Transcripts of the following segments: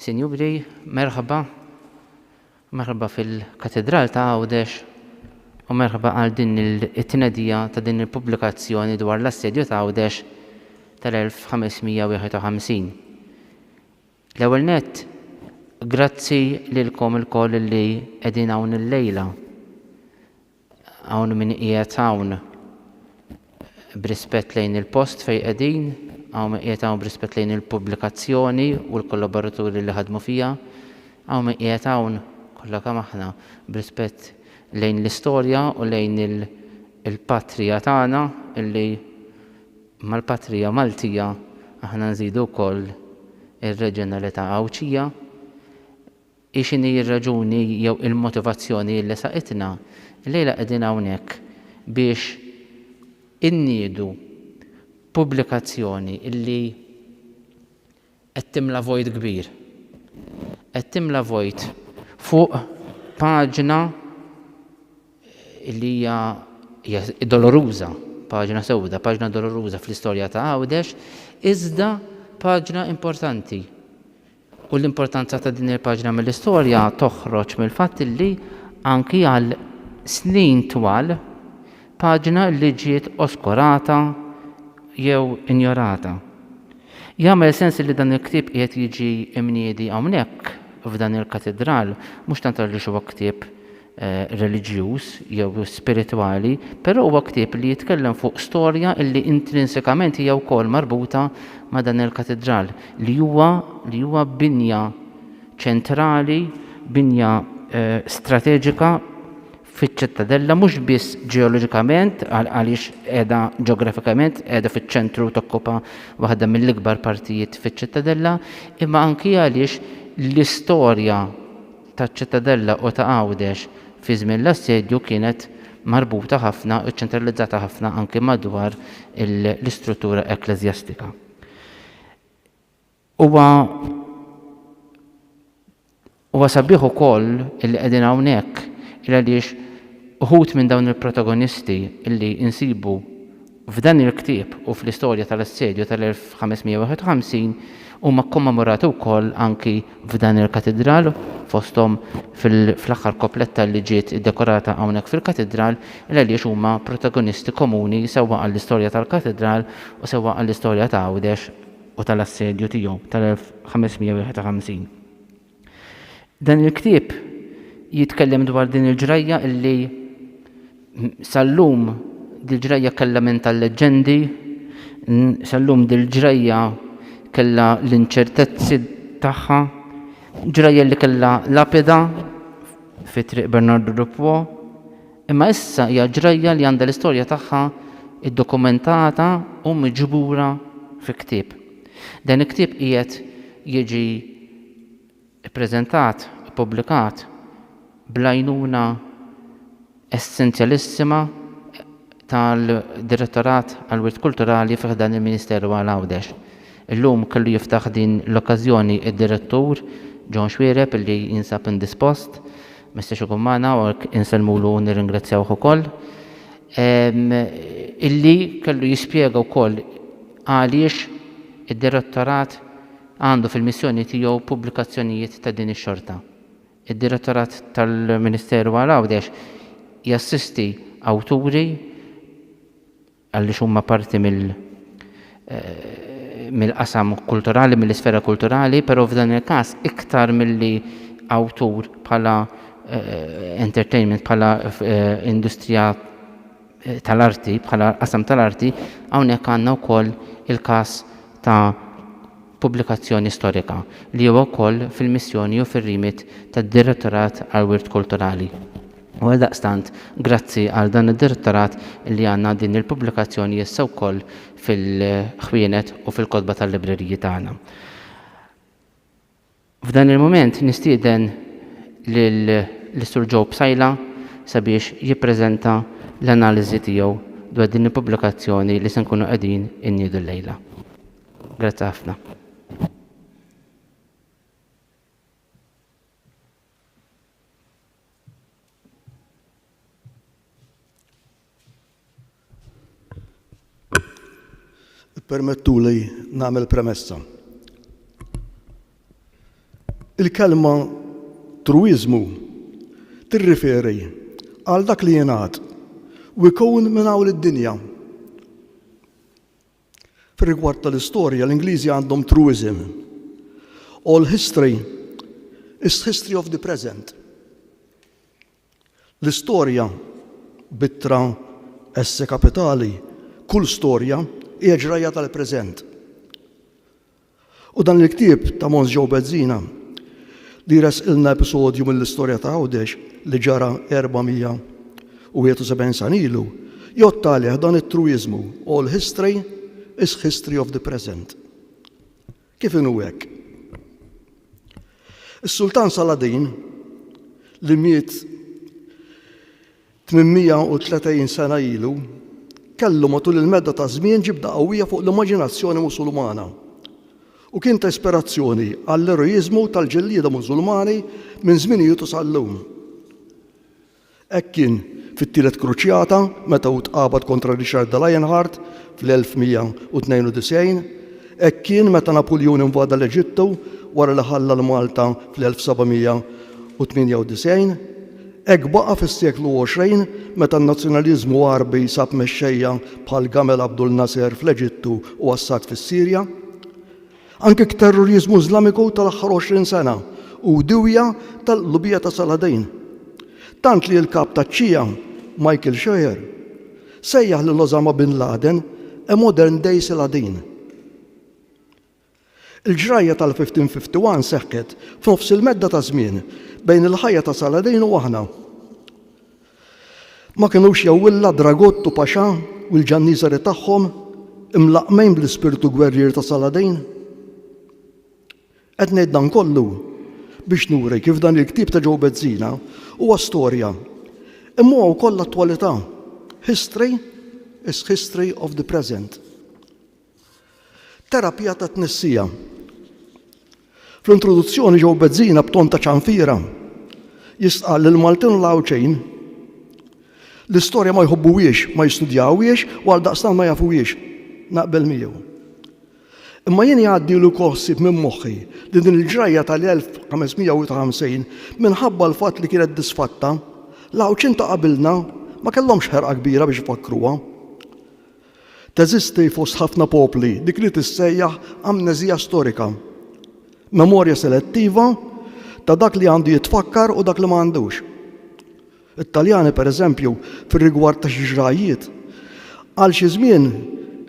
Sinjuri, merħba. Merħba fil-Katidral ta' Għawdex u merħba għal din it-tnedija ta' din il-pubblikazzjoni dwar l-Assedju ta' Għawdex tal-1551. L-ewwel nett, grazzi lilkom ilkoll li qegħdin hawn illejla. Hawn min qiegħed hawn b'rispett lejn il-post fejn qegħdin, hawn min qiegħed hawn b'rispett lejn il-pubblikazzjoni u l-kollaboraturi li ħadmu fiha, hawn min qiegħed hawn, kollha kemm aħna, b'rispett lejn l-istorja u lejn il-patrija tagħna illi mal-patrija Maltija aħna nżidu wkoll ir-reġjonalità Għawdxija. Hi x'inhi r-raġuni jew il-motivazzjoni li saqitna? Illejla qegħdin hawnhekk biex inniedu pubblikazzjoni li qed timla vojt kbir. Qed timla vojt fuq paġna li hija hija doloruża, paġna sewda, paġna doloruża fl-istorja ta' Għawdex, iżda paġna importanti U l-importanza ta' din il-paġna mill-istorja toħroġ mill-fatt li, anki għal snin twal, paġna li ġiet oskurata jew injorata. Jagħmel sens li dan il-ktieb qiegħed jiġi mniedi hawnhekk, f'dan il-katidral, mhux tant għaliex huwa ktieb reliġjuż jew spiritwali, però huwa ktieb li jitkellem fuq storja li intrinsikament hija wkoll marbuta ma' dan il-katidral li huwa li huwa binja ċentrali, binja strateġika fiċ-Ċittadella mhux biss ġeoloġikament għaliex qiegħda ġeografikament qiegħda fiċ-ċentru tokkupa waħda mill-ikbar partijiet fiċ-Ċittadella imma anki għaliex l-istorja taċ-Ċittadella u ta' Għawdex fi żmien l-assedju kienet marbuta ħafna u ċċentralizzata ħafna anki madwar l-istruttura ekkleżjastika. Huwa huwa sabiħ ukoll illi qegħdin hawnhekk il għaliex uħud minn dawn il-protagonisti illi insibu F'dan il-ktieb u fl-istorja tal-Assedju tal-1551 huma kkommemorati wkoll anki f'dan il-Katidral, fosthom fl-aħħar kopletta li ġiet iddekorata hawnhekk fil-Katidral, il-għaliex huma protagonisti komuni sewwa għall-istorja tal-Katidral u sewwa għall-istorja ta' Għawdex u tal-Assedju tiegħu tal-1551. Dan il-ktieb jitkellem dwar din il-ġrajja illi sal-lum dil-ġrajja kellha minn tal-leġġendi, sal-lum dil-ġrajja kellha l-inċertezzi tagħha, ġrajja li kellha lapida fi triq Bernardu Dupwo, imma issa hija ġrajja li għandha l-istorja tagħha ddokumentata u miġbura fi ktieb. Dan il-ktieb qiegħed jiġi ppreżentat, ippubblikat, bl-għajnuna essenzjalissima tal-Direttorat għall-Wirt Kulturali fi ħdan il-Ministeru għal Għawdex. Illum kellu jiftaħ din l-okkażjoni d-Direttur John Xuereb illi jinsab indispost, ma jistax ikun magħna u għalhekk insellmulu u nirringrazzjawh ukoll, illi kellu jispjega wkoll Għaliex id-Direttorat għandu fil-missjoni tiegħu pubblikazzjonijiet ta' din ix-xorta? Id-Direttorat tal-Ministeru għal Għawdex jassisti awturi għaliex huma parti mill mill-qasam kulturali, mill-isfera kulturali, però f'dan il-każ iktar milli awtur bħala entertainment, bħala industrija tal-arti, bħala qasam tal-arti, hawnhekk għandna wkoll il-każ ta' pubblikazzjoni storika, li huwa wkoll fil-missjoni u fir-remit tad-Direttorat għall-Wirt Kulturali. U għaldaqstant, grazzi għal dan id-Direttorat li għandna din il-pubblikazzjoni issa wkoll fil-ħwienet u fil-kotba tal-libreriji tagħna. F'dan il-mument nistieden lis-Sur Joe Psaila sabiex jippreżenta l-analiżi tiegħu dwar din il-pubblikazzjoni li se nkunu qegħdin inniedu llejla. Grazzi ħafna. Permettuli nagħmel premessa. Il-kelma truiżmu tirriferi għal dak li jingħad u jkun minn hawn id-dinja. Fir-rigward tal-istorja, l-Ingliżi għandhom truism. All history is history of the present. L-istorja, b'ittra esse kapitali, kull storja, hija ġrajja tal-preżent. U dan il-ktieb ta' Mons Joe Bezzina, li jressqilna episodju mill-istorja ta' Għawdex li ġara 471 sena ilu, jgħodd għalih dan it-truiżmu, All history is history of the present. Kif inhu hekk? Is-Sultan Saladin li miet 830 sena ilu kellu matul il-medda ta' żmien ġibda qawwija fuq l-immaġinazzjoni Musulmana u kien ta' ispirazzjoni għall-eroiżmu tal-ġellieda Musulmani minn żminijiet u sal-lum. Hekk kien fit-Tielet Kruċjata meta hu tqabad kontra Richard de Lionheart fl-1192, hekk kien meta Napuljun invada l-Eġittu wara li ħalla 'l Malta fl-1798, hekk baqa' fis-seklu 20 meta n-nazzjonaliżmu Għarbi sab mexxejja bħal Gamal Abdul Nasser fl-Eġittu u Assad fis-Sirja. Anke t-terroriżmu Iżlamiku tal-aħħar 20 sena hu diwja tal-qlubija ta' Saladin. Tant li l-Kap taċ-Ċija, Michael Scheuer, sejjaħ lil Osama bin Laden a modern day Saladin. Il-ġrajja tal-1551 seħħet f'nofs il-medda ta' żmien bejn il-ħajja ta' Saladin u aħna. Ma kinux jew illa Dragut u Paxà u l-ġanniżeri tagħhom imlaqqmejn bl-ispirtu gwerrier ta' Saladin? Qed ngħid dan kollu biex nuri kif dan il-ktieb ta' Joe Bezzina huwa storja, imma huwa wkoll attwalità, history is history of the present. Terapija tat-tnissija. Fl-introduzzjoni Joe Bezzina b'ton ta' ċanfira jistqal li l-Maltin u l-Għawdxin l-istorja ma jħobbuhiex, ma jistudjawhiex u għaldaqstant ma jafuhiex. Naqbel miegħu. Imma jien jgħaddilu wkoll ħsieb minn moħħi li din il-ġrajja tal-1550 minħabba l-fatt li kienet disfatta, l-Għawdxin ta' qabilna ma kellhomx ħerqa kbira biex ifakkruha. Teżisti fost ħafna popli dik li tissejjaħ amneżija storika, memorja selettiva ta' dak li għandu jitfakkar u dak li ma għandux. It-Taljani, pereżempju, fir-rigward ta' xi ġrajjiet, għal xi żmien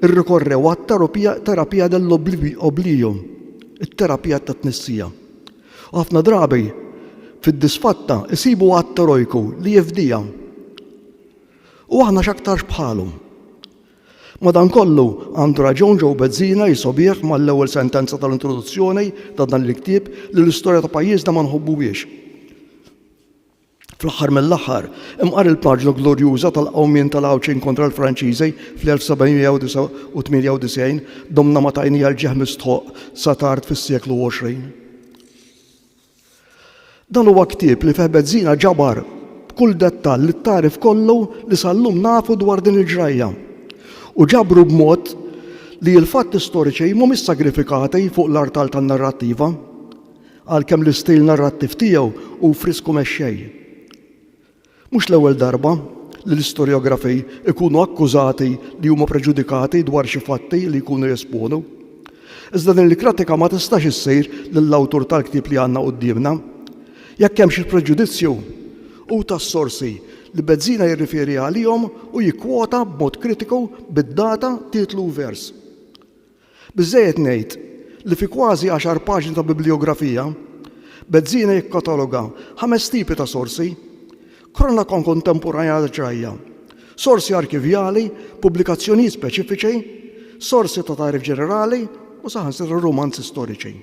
irrikorrew għat-terapija dell-oblio, it-terapija tat-tnissija. U ħafna drabi, fid-disfatta, isibu att erojku li jifdija. U aħna x'aktarx bħalhom. Madankollu, għandu raġun Joe Bezzina jisogħbih mal-ewwel sentenza tal-introduzzjoni ta' dan il-ktieb li l-istorja ta' pajjiżna ma nħobbuhiex. Fl-aħħar mill-aħħar, imqar il-paġna glorjuża tal-qawmien tal-Għawdxin kontra l-Franċiżi fl-1798 domna ma tajnija l-ġieħ mistħoqq sa tard fis-seklu 20. Dan huwa ktieb li fih Bezzina ġabar b'kull dettall it-tagħrif kollu li sal-lum nafu dwar din il-ġrajja u ġabru b'mod li l-fatti storiċi mhumiex sagrifikati fuq l-artal tan-narrattiva, għalkemm l-istil narrattiv tiegħu hu frisku mexxej. Mhux l-ewwel darba li l-istorjografi jkunu akkużati li huma preġudikati dwar xi fatti li jkunu jesponu. Iżda din il-kratika ma tistax issir lill-awtur tal-ktieb li għandna quddiemna. Jekk hemm xi preġudizzju, hu tas-sorsi li Bezzina jirriferi għalihom u jikkwota b'mod kritiku bid-data, titlu u vers. Biżżejjed ngħid li fi kważi għaxar paġni ta' biblijografija, Bezzina jikkataloga ħames tipi ta' sorsi, kronaka kontemporanja ta' ġrajja, sorsi arkivjali, pubblikazzjonijiet speċifiċi, sorsi ta' tagħrif ġenerali u saħansitra rumanzi storiċi.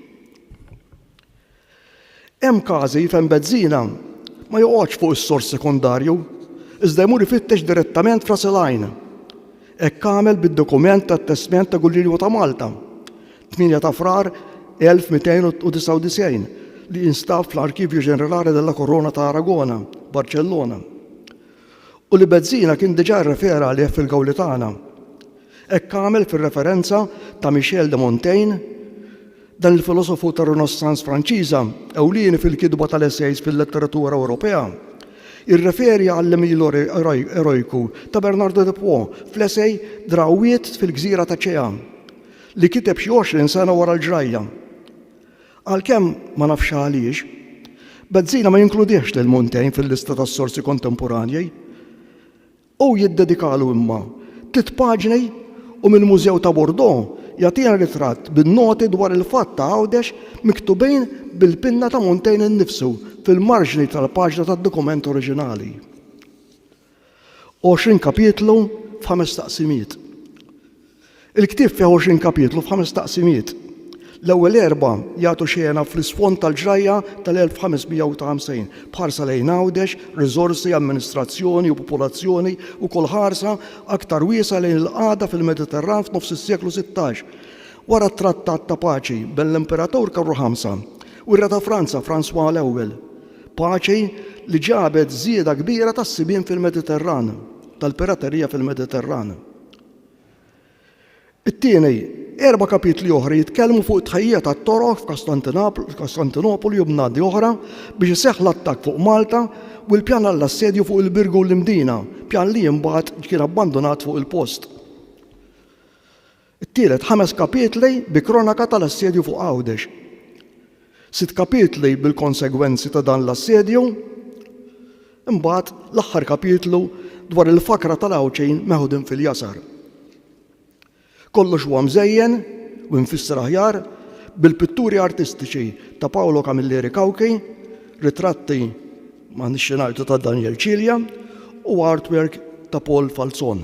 Hemm każi fejn benżina ma joqgħodx fuq is-sors sekondarju, iżda jmur ifittex direttament f'ras il-għajn. Hekk għamel bid-dokument tat-testment ta' Gullilju ta' Malta, 8 ta' Frar 1299, li jinstab fl-Archivio Generale della Corona ta' Aragona, Barċellona. U li Bezzina kien diġà rrefera għalih fil-Gawli tagħna. Hekk għamel fir-referenza ta' Michel de Montaigne, dan il-filosofu tar-Renossans Franċiża, ewlieni fil-kitba tal-esejs fil-letteratura Ewropea, jirreferi għall-għemil erojku ta' Bernardo de Pau fl-esej Drawwiet fil-Gżira ta' Cea, li kiteb xi 20 sena wara l-ġrajja. Għalkemm, ma nafx għaliex, Bezzina ma jinkludihx lil Montaigne fil-lista tas-sorsi kontemporanji. Hu jiddedikalu imma tliet paġni u mill-Mużew ta' Bordeaux jagħtina ritratt bin-noti dwar il-fatt ta' Għawdex miktubin bil-pinna ta' Montaigne innifsu fil-marġni tal-paġna tad-dokument oriġinali. 20 kapitlu f'ħames taqsimiet. Il-ktieb fih 20 kapitlu f'ħames taqsimiet. L-ewwel erba' jagħtu xena fl-isfond tal-ġrajja tal-1550, bħarsa lejn Għawdex, riżorsi, amministrazzjoni u popolazzjoni u kol ħarsa aktar wiesa' lejn il-qagħda fil-Mediterran f'nofs is-seklu 16. Wara t-trattat ta' paċi bejn l-Imperatur Karlu Ħamsa u r-Re ta' Franza François l-Ewwel, Paċi li ġabet żieda kbira tas-sibien fil-Mediterran, tal-piraterija fil-Mediterran. It-tieni, erba' kapitli oħra jitkellmu fuq it-tħejjija tat-toroq f'Kostantinopoli u bnadi oħra biex iseħħ l-attakk fuq Malta u l-pjan għall-assedju fuq il-Birgu u l-Imdina, pjan li imbagħad kien abbandunat fuq il-post. It-tielet ħames kapitli bi kronaka tal-assedju fuq Għawdex. Sitt kapitli bil-konsegwenzi ta' dan l-assedju. Imbagħad l-aħħar kapitlu dwar il-fakra tal-Għawdxin meħudin fil-jasar. Kollox huwa mżejjen u imfisser aħjar bil-pitturi artistiċi ta' Paolo Camilleri Cauchi, ritratti ma' nixxi ngħidu ta' Daniel Cilia u artwork ta' Paul Falzon.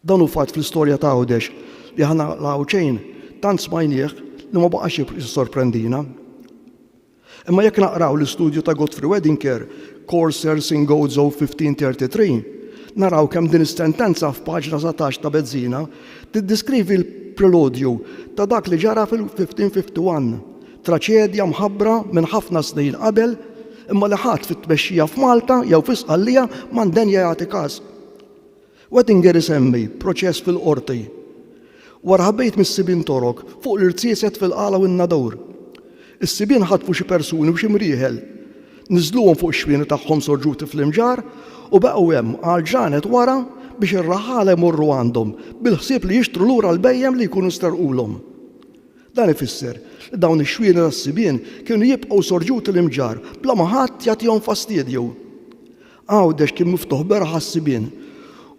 Dan hu fatt fl-istorja ta' Għawdex li aħna l-Għawdxin tant smajnieh li ma baqax jissorprendina. Imma jekk naqraw l-istudju ta' Godfrey Wedinger, Coursers in Gozo 1533, naraw kemm din is-sentenza f'paġna satax ta' Bezzina tiddiskrivi l-preludju ta' dak li ġara fil-1551, traċedja mħabbra minn ħafna snin qabel imma li ħadd fit-tmexxija f'Malta jew fi Sqallija ma ndenja jagħti kas. Wettinger isemmi proċess fil-Qorti wara ħabejt mis-sibien Torok fuq l-irziezet fil-Qala u n-Nadur. Is-sibien ħatfu xi persuni u xi mrieħel. Niżżluhom fuq ix-xwieni tagħhom sorġuti fl-imġarr u baqgħu hemm għal ġranet wara biex ir-raħħala jmorru għandhom bil-ħsieb li jixtru lura l-bhejjem li jkunu sterqulhom. Dan ifisser li dawn ix-xwieni tas-sibien kienu jibqgħu sorġuti l-imġarr bla ma ħadd jagħtihom fastidju. Għawdex kien miftuħ beraħ għas-sibien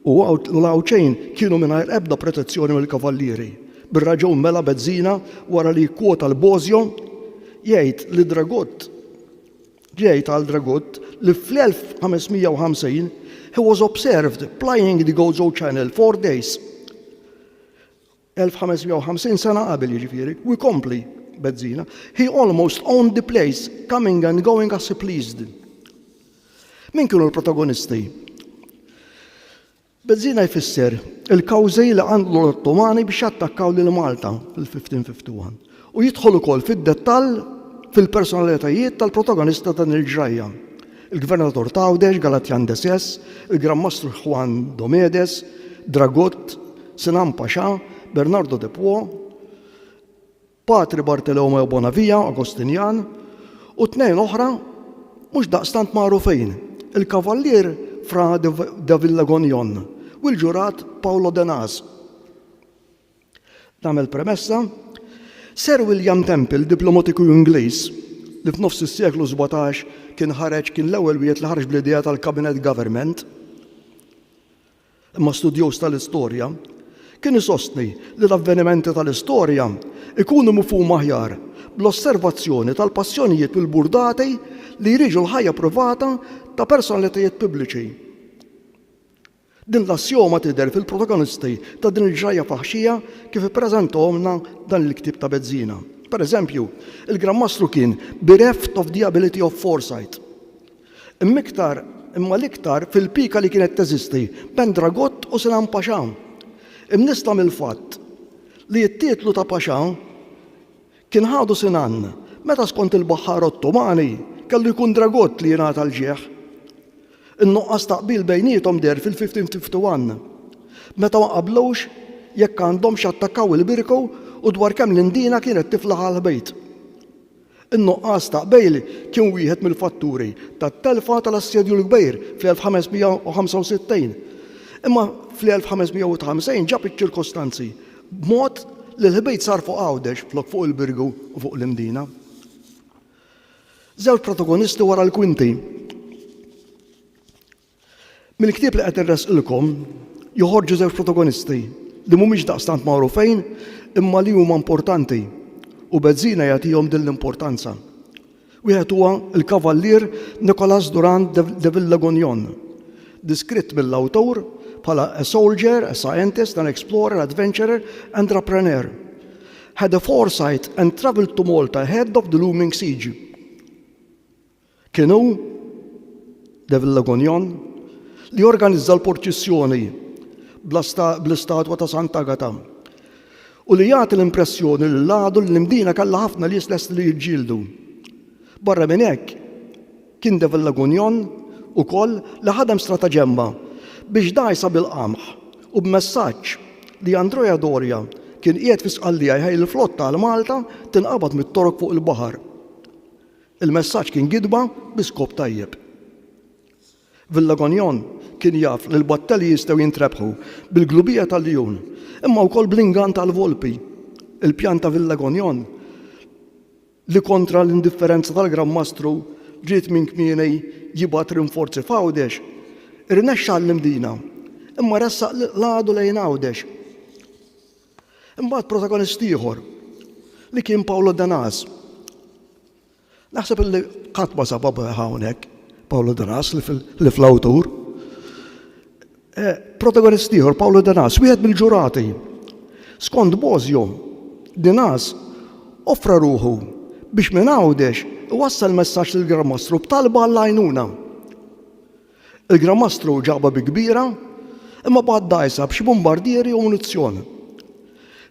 u l-Għawdxejn kienu mingħajr ebda protezzjoni mill-Kavallieri. Bir-raġun mela Bezzina wara li jikkwota l-Bosio jgħid li Dragut jgħid għal Dragut li fl-1550 he was observed plying the Gozo Channel four days 1,550 sena qabel jiġifieri, u jkompli Bezzina, He almost owned the place, coming and going as he pleased. Min kienu l-protagonisti? Bezzina jfisser il-kawżi li għandlu l-Ottomani biex jattakkaw lil Malta fil-1551. u jidħol ukoll fid-dettall fil-personalitajiet tal-protagonist ta' dan il-ġrajja, il-Gvernatur t'Għawdex, Galatjan de Sess, il-Gran Mastru Juan Domedes, Dragut, Sinan Paxà, Bernardo de Pwo, Patri Bartolomeo Bonavia, Agostinjan, u tnejn oħra mhux daqstant magħrufin, il-Kavallier Fra de Villagognon u l-Ġurat Paolo Denaz. Nagħmel premessa, Sir William Temple, diplomatiku Ingliż, li f'nofs is-seklu sbatax kien ħareġ kien l-ewwel wieħed li ħareġ bl-idea tal-cabinet government, imma studjuż tal-istorja, kien isostni li l-avvenimenti tal-istorja jkunu mifhuma aħjar bl-osservazzjoni tal-passjonijiet u l-burdati li jriġu l-ħajja privata ta' personalitajiet pubbliċi. Din l-assjoma tidher fil-protagonisti ta' din il-ġrajja faħxija kif ippreżentahomlna dan il-ktieb ta' bezzina. Per eżempju, il-Gran Mastru kien bereft of the ability of foresight. Imma iktar, imma l-iktar fil-pika li kienet teżisti bejn Dragot u Sinan Paxà. Imnissla mill-fatt li t-titlu ta' Paxà Kien ħadu Sinan, meta skont il-baħħar Ottomani kellu jkun Dragut li jingħata l-ġieħ. In-nuqqas ta' qbil bejniethom deher fil-1551, meta ma qablux jekk għandhomx jattakkaw il-Birku u dwar kemm l-Indina kienet tiflaħ għall-Ħbejt. In-nuqqas ta' qbil kien wieħed mill-fatturi tat-telfa tal-Assedju l-Kbir fl-1565, imma fl-1551 ġab iċ-ċirkostanzi b'mod li l-ħbit sar fuq Għawdex flok fuq il-Birgu u fuq l-Imdina. Żewġ protagonisti wara l-kwinti. Mill-ktieb li qed nressqilkom joħorġu żewġ protagonisti li mhumiex daqstant magħrufejn imma li huma importanti u Bezzina jagħtihom din l-importanza. Wieħed huwa l-Kavallier Nicolas Durand de Villegognon, diskritt mill-awtur bħala a soldier, a scientist, an explorer, adventurer and rapreneur. Had a foresight and travelled to Malta ahead of the looming siege. Kien hu, de Villegognon, li organizza l-purċissjoni bl-istatwa ta' Sant'Agata. u li jagħti l-impressjoni li l-għadu li l-Imdina kellha ħafna nies lesti li jiġġieldu. Barra minn hekk, kien Devil Lagunion ukoll li ħadem strataġemma biex dgħajsa bil-qamħ u b'messaġġ li Andrea Doria kien qiegħed fi Sqallija jħejjel il-flotta għal Malta tinqabad mit-Torok fuq il-baħar. Il-messaġġ kien gidba bi skop tajjeb. Villagognon kien jaf li l-battelji jistgħu jintrebħu bil-glubija tal-ljun, imma wkoll bl-ingann tal-volpi. Il-pjan ta' Villagognon li kontra l-indifferenza tal-Gran Mastru ried minn kmieni jibgħat rinforzi f'Għawdex, irnexxa għall-Imdina, imma ressaq l-għadu lejn Għawdex. Imbagħad protagonist ieħor, li kien Pawlu Danaz. Naħseb illi qatt ma sab obra hawnhekk Pawlu Danas li fl-awtur. Eh, protagonist ieħor Pawlu Danas, wieħed mill-ġurati. Skont Bozio, Danas offra ruħu biex minn Għawdex iwassal messaġġ lill-Gran Mastru b'talba għall-għajnuna. Il-Gran Mastru ġabha bi kbira, imma bagħat dgħajsa b'xi bumbardieri u munizzjon.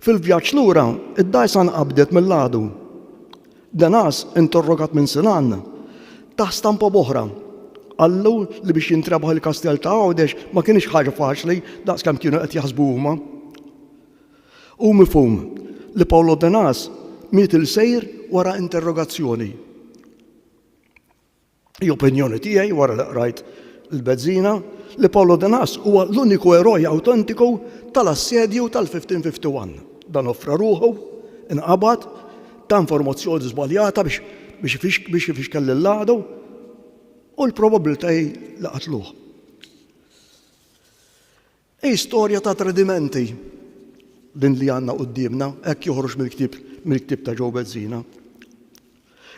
Fil-vjaġġ lura, id-dgħajsa nqabdet mill-għadu. Denas, interrogat minn Sinan, tah stampa b'oħra. Qallu li biex jintrebaħ il-Kastell ta' Għawdex ma kinitx ħaġa faċli daqs kemm kienu qed jaħsbu huma. Hu mifhum li Paolo Denas miet il-sejr wara interrogazzjoni. Hi opinjoni tiegħi wara li qrajt l-bezzina li Paolo de Nas huwa l-uniku eroj awtentiku tal-assedju tal-1551. Dan offra ruħu, inqabad, ta informazzjoni żbaljata biex biex ifixkel lill-għadu u l-probabbiltajiet li qatluh. Hi storja ta' tradimenti din li għandna quddiemna, hekk joħroġ mill-ktieb mill-ktieb ta' Joe Bezzina.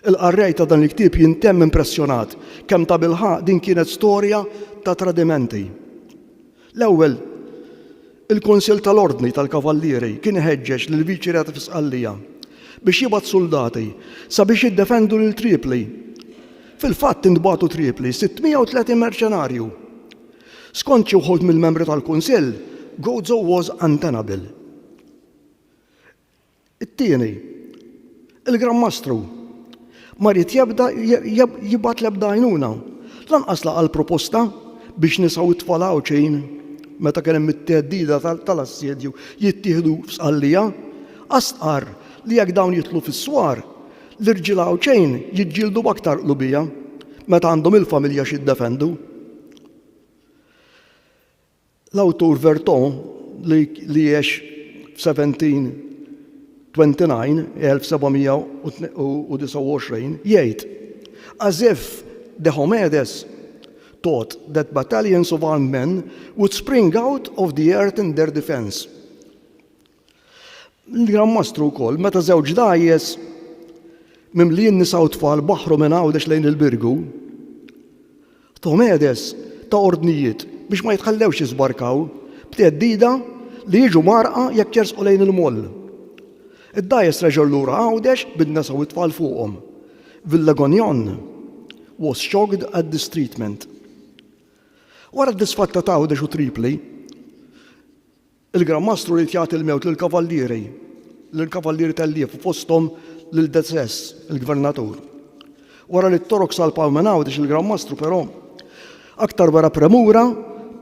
Il-qarrej ta' dan il-ktieb jintemm impressjonat kemm tabilħaqq din kienet storja ta' tradimenti. L-ewwel, il-Kunsill tal-Ordni tal-Kavallieri kien iħeġġeġ lill-Viċi Reat fi Sqallija biex jibgħat suldati sabiex jiddefendu lil Tripli. Fil-fatt intbagħtu Tripli 630 merċenarju Skont xi wħud mill-membri tal-Kunsill, Gozo was untenable. It-tieni, il-Gran Mastru ma ried jebda jibgħat l-ebda għajnuna, lanqas laqa' l-proposta biex nisa u t-tfal Għawdxin, meta kien hemm it-theddida tal-assedju, jittieħdu f'Sqallija, għax stqarr li jekk dawn jidħlu fis-swar, l-irġiel Għawdxin jiġġieldu b'aktar qlubija meta għandhom il-familja x'iddefendu. L-awtur Vertot, li għex f'1729, 1729, jgħid, As if Diomedes thought that battalions of armed men would spring out of the earth in their defence. L-Gran Mastru wkoll, meta żewġ dgħajjes mimlijin nisa u tfal baħħru minn Għawdex lejn il-Birgu, Tomedes ta' ordnijiet biex ma jitħallewx jiżbarkaw, b'theddida li jiġu mgħarrqa jekk jersqu lejn il-Moll. Id-dgħajjes reġgħu lura Għawdex bin-nisa u t-tfal fuqhom. Villegognon was shocked at this treatment. Wara d-disfatta t'Għawdex u Tripli, Il-Gran Mastru ried jagħti l-mewt lill-kavallieri, lill-kavallieri tellief u fosthom lil Deces, il-gvernatur. Wara li t-Torok salpaw minn Għawdex il-Gran Mastru però aktar wera premura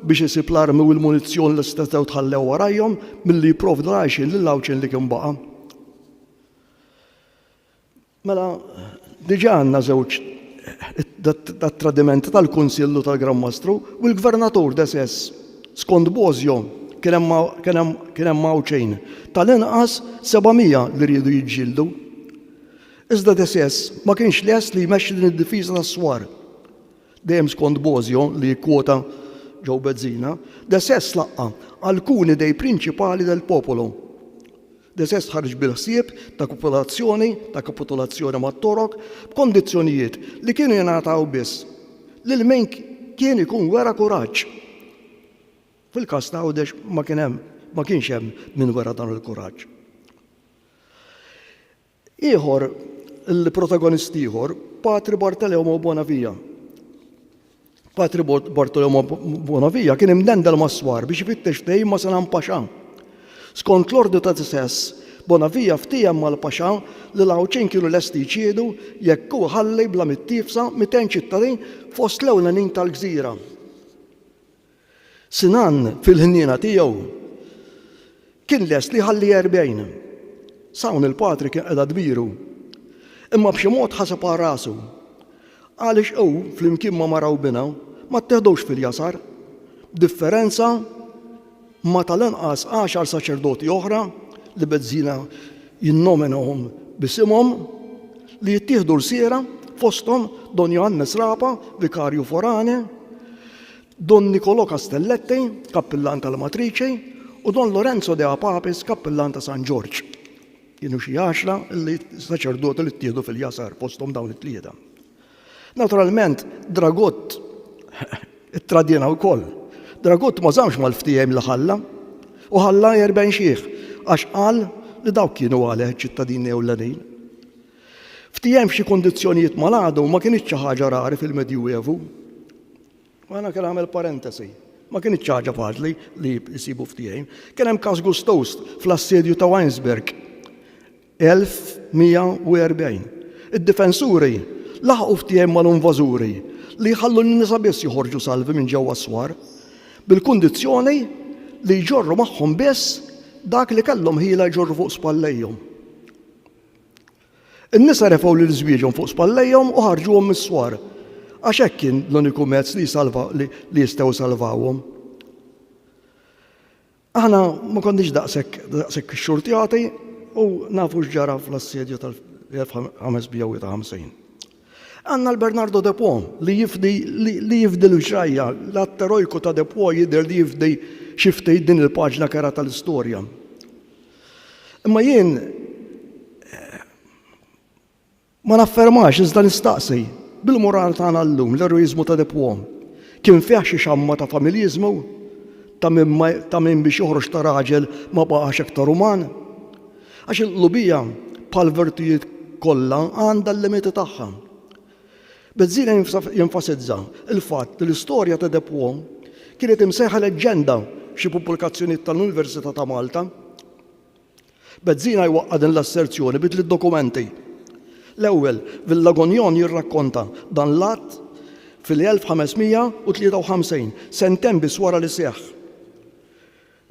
biex isib l-armi u l-munizzjon li stetgħu tħallew warajhom milli jipprovdu l-għajxien lill-Għawdxin li kien baqa'. Mela, diġà għandna żewġ tat-tradiment tal-Kunsill u tal-Gran Mastru, u l-Gvernatur desess, skont Bosio, kien hemm kien hemm Għawdxejn, tal-inqas seba' mija li riedu jiġġieldu. Iżda desess ma kienx lest li jmexxi din id-difiża tas-swar. Dejjem skont Bosio, li jikkwota Joe Bezzina, desess laqqa' alcuni dei principali del popolo. Deces ħareġ bil-ħsieb ta' kopulazzjoni, ta' kapitulazzjoni mat-Torok, b'kondizzjonijiet li kienu jingħataw biss lil min kien ikun wera kuraġġ. Fil-każ ta' Għawdex ma kien hemm, ma kienx hemm min wera dan il-kuraġġ. Ieħor, il-protagonist ieħor, Patri Bartolomeo Bonavia. Patri Bartolomeo Bonavia kien imdendel mas-swar biex ifittex ftehim ma' Sanan Paxa. Skont l-ordni ta' Tisess, Bonavia ftiehem mal-Paxa li l-Għawdxin kienu lesti jċiedu jekk hu jħalli bla mittiefsa 200 ċittadin fost l-ewlenin tal-gżira. Sinan fil-ħniena tiegħu kien lest li jħalli erbgħin. S'hawn il-patri kien qiegħda dmiru. Imma b'xi mod ħaseb għal rasu. Għaliex hu flimkien ma' mara u binha ma tteħdux fil-jasar, b'differenza ma' tal-anqas għaxar saċerdoti oħra li Bezzina jinnomenahom b'isimhom li jittieħdu lsiera fosthom Don Johannes Rapa, vikarju forani, Don Nicolò Castelletti, kappillan tal-Matriċi, u Don Lorenzo de Apapis, kappillan ta' San Ġorġ. Kienu xi għaxra l-saċerdoti li ttieħdu fil-jasar fosthom dawn it-tlieta. Naturalment, Dragott ittradina wkoll. Dragott ma żamx mal-ftehim li ħalla u ħalla jerben xiħ għax qal li dawk kienu għalih iċ-ċittadini ewlenin. Ftehim f'xi kundizzjonijiet mal-għadu ma kienx xi ħaġa rari fil-Medjuevu. Għana kien għamel parentesi. Ma kienitx ħaġa faċli li jsibu ftehim. Kien hemm każ gustost fl-assedju ta' Weinsberg 1140. Id-difensuri laħqu ftehim mal-invażuri li jħallu lin-nisa biss joħorġu salvi minn ġewwa s-swar, bil-kundizzjoni li jġorru magħhom biss dak li kellhom ħila jġorru fuq spallejhom. In-nisa refgħu lil żwieġhom fuq spallejhom u ħarġuhom mis-swar, għax hekk kien l-uniku mezz li jsalva li li jistgħu jsalvawhom. Aħna ma konniex daqshekk daqshekk xxurtjati u nafu x'ġara fl-assedju tal-1553. Għandna l-Bernardo de Po li jifdi li jifdi l-ġrajja, l-att erojku ta' de Po jidher li jifdi xi ftit din il-paġna kerha tal-istorja. Imma jien eh, ma naffermax iżda nistaqsi bil-moral tagħna llum l-eroiżmu ta' Depuom kien fih xi xamma ta' familjiżmu ta' min biex joħroġ ta' raġel ma baqax iktar uman. Għax il-qlubija bħal virtujiet kollha għandha l-limiti tagħha. Bezzina jenfasizza l-fatt li l-istorja ta' Depwo kienet imsejħa leġġenda f'xi pubblikazzjonijiet tal-Università ta' Malta. Bezzina jwaqqa' din l-asserzjoni bi tliet dokumenti. L-ewwel, Villagonjon jirrakkonta dan l-att fil-1553, sentejn biss wara li seħħ.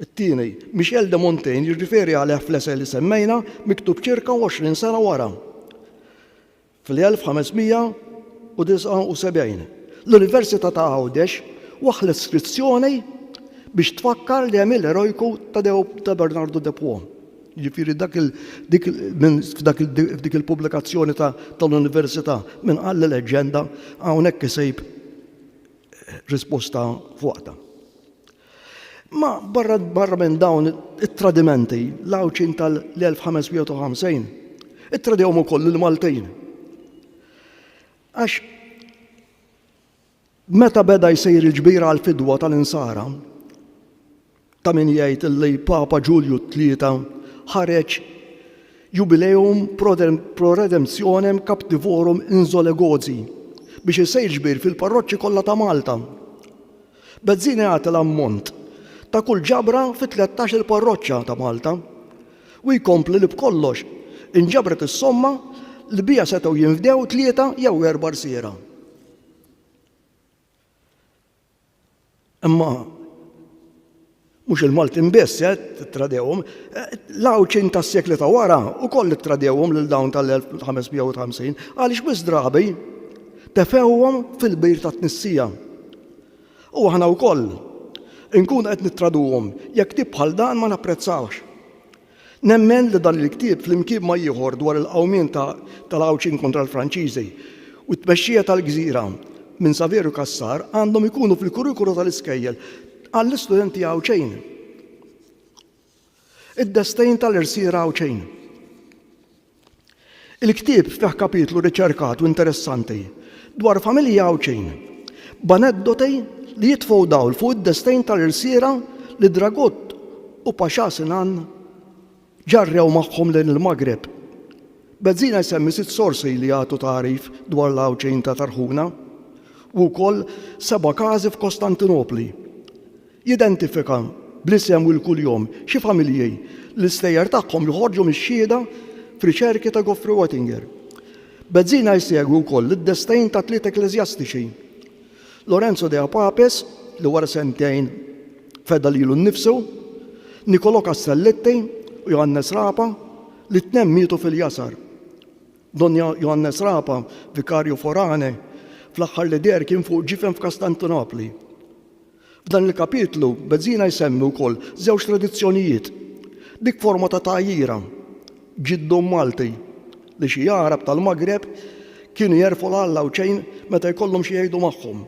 It-tieni, Michel de Montaigne jirriferi għalih fl-esej li semmejna, miktub ċirka 20 sena wara. Fl-1579, l-Università ta' Għawdex waħħlet skrizzjoni biex tfakkar l-għemil erojku ta' Bernardu de Pont. Jiġifieri dak il, dik il, min f'dak il, f'dik il-pubblikazzjoni ta' tal-Università, min qal li leġġenda, hawnhekk isib risposta f'waqtha. Ma barra minn dawn it-tradimenti, l-Għawdxin tal-1550 ittradewhom ukoll il-Maltin. Għax meta beda jsir il-ġbira għal fidwa tal-insara, ta' min jgħid li Papa Ġulju tlieta ħareġ jubileum pro redemptionem captivorum inzolegozi biex isir ġbir fil-parroċċi kollha ta' Malta. Bezzini għata l-ammont ta' kull ġabra fi tlettax-il parroċċa ta' Malta u jkompli li b'kollox inġabret is-somma li biha setgħu jinfdew tlieta jew erba' rsiera. Imma Mhux il-Maltin biss, eh, tradewhom. L-Għawdxin tas-sekli ta' wara wkoll ittradewhom lil dawn tal-1550 għaliex wisq drabi tefewhom fil-bir tat-tnissija. U aħna wkoll inkunu qed nittraduhom jekk tip bħal dan ma napprezzawhx. Nemmen li dan il-ktieb flimkien ma' ieħor dwar il-qawmien ta' tal-Għawdxin kontra l-Franċiżi u t-tmexxija tal-gżira minn Saverio Cassar għandhom ikunu fil-kurrikulu tal-iskejjel għall-istudenti Għawdxin. Id-destejn tal-irsiera Għawdxin. Il-ktieb fih kapitlu riċerkat u interessanti dwar familji Għawdxin, b'aneddoti li jitfgħu dawl fuq id-destejn tal-irsiera li Dragut u Paxà Sinan ġarrew magħhom lejn il-Maghreb. Bezzina jsemmi sitt sorsi li jagħtu tagħrif dwar l-Għawdxin ta' Tarħuna u wkoll seba' każi f'Kostantinopli. Jidentifika bl-isem u l-kuljom xi familji li l-istejjer tagħhom joħorġu mix-xhieda f'riċerki ta' Geoffrey Wattinger. Bezzina jsegwi wkoll id-destejn ta' tliet ekkleżjastiċi, Lorenzo de Apapes, li wara sentejn feda lilu nnifsu, Niccolò Castelletti u Johannes Rapa, li t-tnenn mietu fil-jasar. Don Johannes Rapa, vikarju forane, fl-aħħar li deher kien fuq ġifen f'Kastantinopli. F'dan il-kapitlu, Bezzina jsemmi wkoll żewġ tradizzjonijiet, dik forma ta' tgħajjira, ġiddum Malti, li xi Għarab tal-Maghreb kienu jerfgħu l-Alla u ċejn meta jkollhom xi jgħidu magħhom,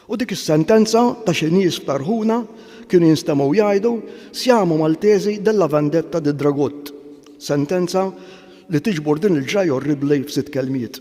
u dik is-sentenza ta' xi nies f'Tarhuna kienu jinstemgħu jgħidu Siamo Maltesi della vendetta di Dragut, sentenza li tiġbor din il-ġrajja orribbli f'sitt kelmiet.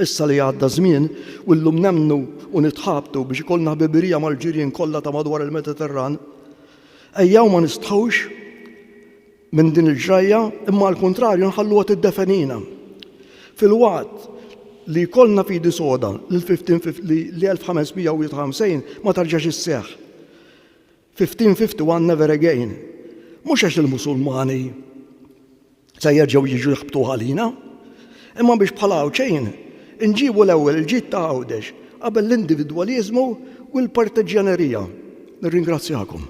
Issa li għadda ż-żmien u llum nemmnu u nitħabtu biex ikollna ħbibirija mal-ġirien kollha ta' madwar il-Mediterran, ejjew ma nistħux minn din il-ġrajja imma għall-kuntrarju nħalluha tiddefenina. Filwaqt li jkollna fidi soda li l-1551 ma terġax isseħħ, 1551 Never Again mhux għax il-Musulmani se jerġgħu jiġu jħabbtuh għalina, imma biex bħala Għawdxin inġibu l-ewwel il-ġid ta' Għawdex qabel l-individwaliżmu u l-partiġġjanerija. Nirringrazzjakom.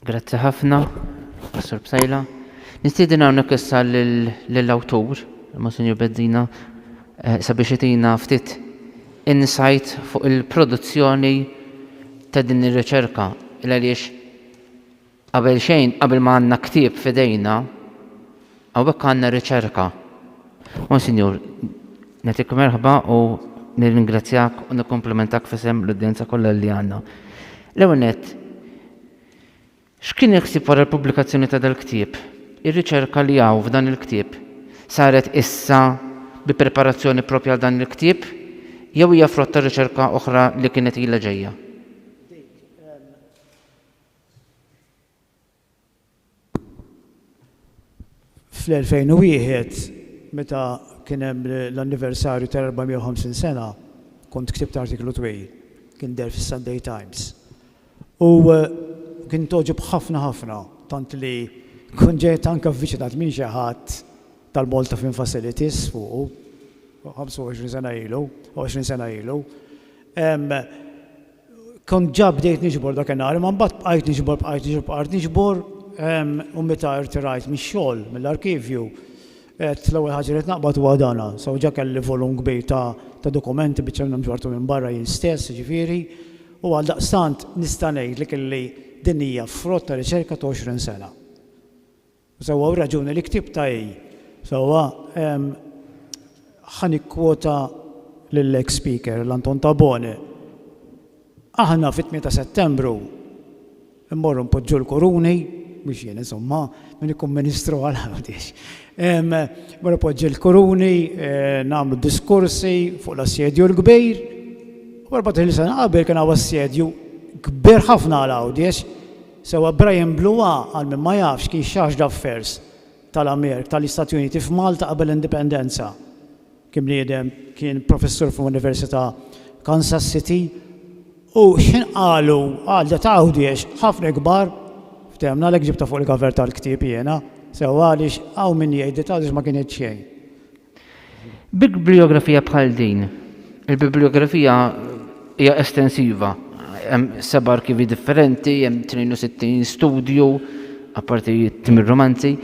Grazzi ħafna, Pastor Psaila. Nistieden hawnhekk issa lill-awtur, Monsinjur Bezzina, eh, sabiex itina ftit insight fuq il-produzzjoni ta' din ir-riċerka. Il għaliex qabel xejn, qabel ma għandna ktieb f'idejna, Hawnhekk għandna riċerka. Monsinjur, nagħtik merħba u nirringrazzjak u nikkomplimentak f'isem l-udjenza kollha li għandna. L-ewwel nett, x'kien il-ħsieb wara l-pubblikazzjoni ta' dal-ktieb? Ir-riċerka li hawn f'dan il-ktieb saret issa bi preparazzjoni proprja għal dan il-ktieb jew hija frott ta' riċerka oħra li kienet ilha ġejja? Fl-2001, meta kien hemm l-anniversarju tal-450 sena, kont ktibt artiklu twil, kien deher fis-Sunday Times, u kint għoġob ħafna ħafna, tant li kont ġejt anke avviċinat minn xi ħadd tal-Malta Film Facilities fuqu, 25 sena ilu, 20 sena ilu. Kont ġa bdejt niġbor dakinhar, imma mbagħad bqajt niġbor, bqajt niġbor, bqajt niġbor, u meta irtirajt mix-xogħol, mill-arkivju, għedt l-ewwel ħaġa li qed naqbad huwa dana. So ġa kelli volum kbir ta' dokumenti, biċċa minnhom ġbarthom minn barra jien stess, jiġifieri, u għaldaqstant nista' ngħidlek illi din hija frott ta' riċerka ta' għoxrin sena. Sewwa u raġuni li ktibt ta' hi. Sewwa, ħa nikkwota lill-eks Speaker, lil Anton Tabone, Aħna fit-tmien ta' Settembru mmorru npoġġu l-kuruni, mhux jien insomma, min ikun Ministru għal Għawdex. Mmur inpoġġi l-kuruni, nagħmlu diskorsi fuq l-assedju l-kbir. U 14-il sena qabel kien hawn assedju kbir ħafna għal Għawdex. Sewwa Brian Blua, għal min ma jafx, kien Charge d'Affairs tal-Amerk tal-Istati Uniti f'Malta qabel l-Indipendenza. Kien bniedem, kien professur fl-Università Kansas City u x'ħin qalu għal dat Għawdiex għax ħafna kbar, fthemna għalhekk ġibtha fuq il-cover tal-ktieb jiena, sewwa għaliex hawn min jgħid dat Għawdiex ma kienet xejn. Biblijografija bħal din, il-biblijografija hija estensiva, hemm seba' arkivi differenti, hemm 62 studju, apparti timir romanzi,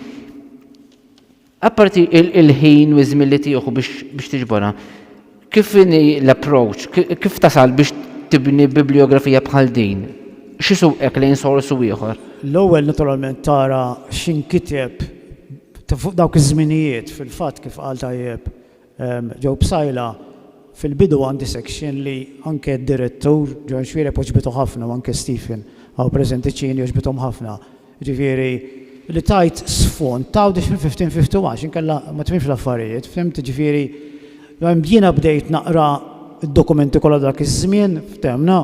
apparti il-ħin u żmien li tieħu biex tiġbora. Kif inhi l-approach? Kif tasal biex tibni bibliografija bħal din? X'isuqek lejn sors u ieħor? L-ewwel naturalment tara x'inkiteb fuq dawk iż-żminijiet. Fil-fatt kif qal tajjeb Joe Psaila, fil-bidu għandi section li anke d-direttur Ġwanxwiered għoġbitu ħafna u anke Stephen hawn preżenti Cini għoġbithom ħafna. Jiġifieri, li tgħid sfond, tgħawd ix fil fifteen fifty għax inkella ma tifhimx l-affarijiet, fhimt? Jiġifieri, jiena bdejt naqra d-dokumenti kollha dak iż-żmien, fthemna,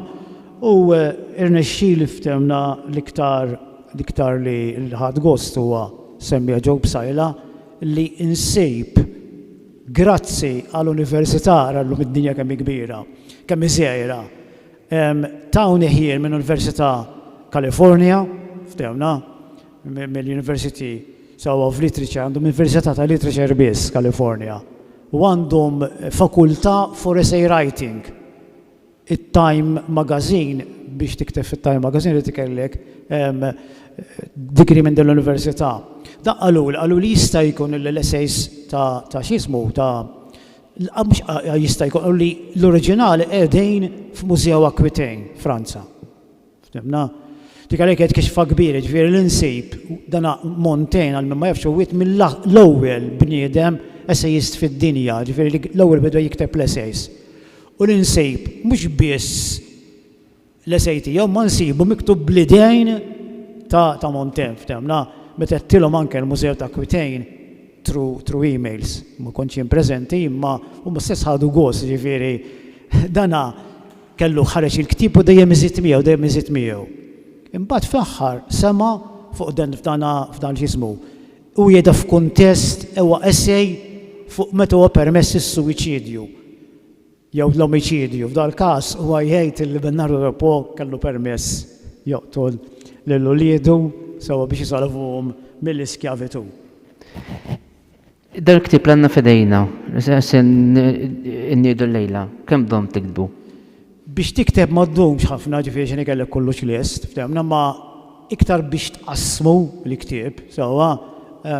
u rnexxieli, fthemna, l-iktar l-iktar li ħadt gost huwa, semmiha Joe Psaila, li nsib, grazzi għal Università, ara llum id-dinja kemm hi kbira, kemm hi żgħira, Tawni ħjiel minn Università California, ftehmna, mill-University sew of Literature, għandhom Università ta' Literature biss, California, u għandhom fakultà for essay writing. It-Time Magazine, biex tikteb fit-Time Magazine irid ikollek degree minn din l-Università. Dak qaluli, qaluli jista' jkun li l-essays ta' x'jismu, ta' Jista' jkun li l-oriġinali qegħdin f'Museo Aquitaine, Franza. Ftimna? Dik għalhekk qed kixfa kbir, jiġifieri li nsib dan Montaigne għal min ma jafx huwiet mill-ewwel bniedem essejist fid-dinja, jiġifieri li l-ewwel beda jikteb l-essays. U li nsib mhux biss L-esej tiegħu ma nsibu miktub bl-idejn ta' ta' Montem, ftemna, meta għedtilhom anke l-Mużew ta' Kwitejn through through emails, ma kontx jien preżenti imma huma stess ħadu gost, jiġifieri dan kellu ħareġ il-ktieb u dejjem iżid miegħu, dejjem iżid miegħu. Imbagħad fl-aħħar sema' fuq dan f'dan f'dan x'jismu, hu jgħidha f'kuntest, huwa esej fuq meta huwa permess is-suwiċidju. jew l-omiċidju. F'dal-każ, huwa jgħid li Bernardo Del Po kellu permess joqtol lil uliedu sewwa biex isalvahom mill-iskjavitù. Dan il-ktieb li għandna f'idejna, li se nniedu llejla, kemm domm tiktbu? Biex tikteb ma ddumx ħafna, jiġifieri x'inhi kellek kollux lest, ftehmna, imma iktar biex tqassmu l-ktieb sewwa.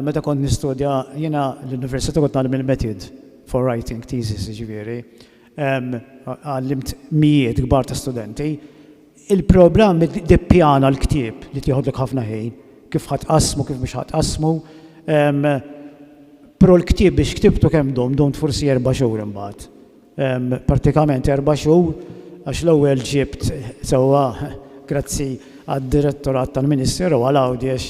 Meta kont nistudja jiena l-università kont ngħallem il-metid. for writing thesis jiġifieri, għallimt mijiet kbar ta' studenti, il-programm iddippjana l-ktieb li tieħodlok ħafna ħin, kif ħa tqassmu, kif mhux ħa tqassmu, però l-ktieb biex ktibtu kemm dum, dumt forsi erba' xhur imbagħad. Prattikament erba' xhur għax l-ewwel ġibt sewwa grazzi għad-Direttorat tal-Ministeru għal Għawdex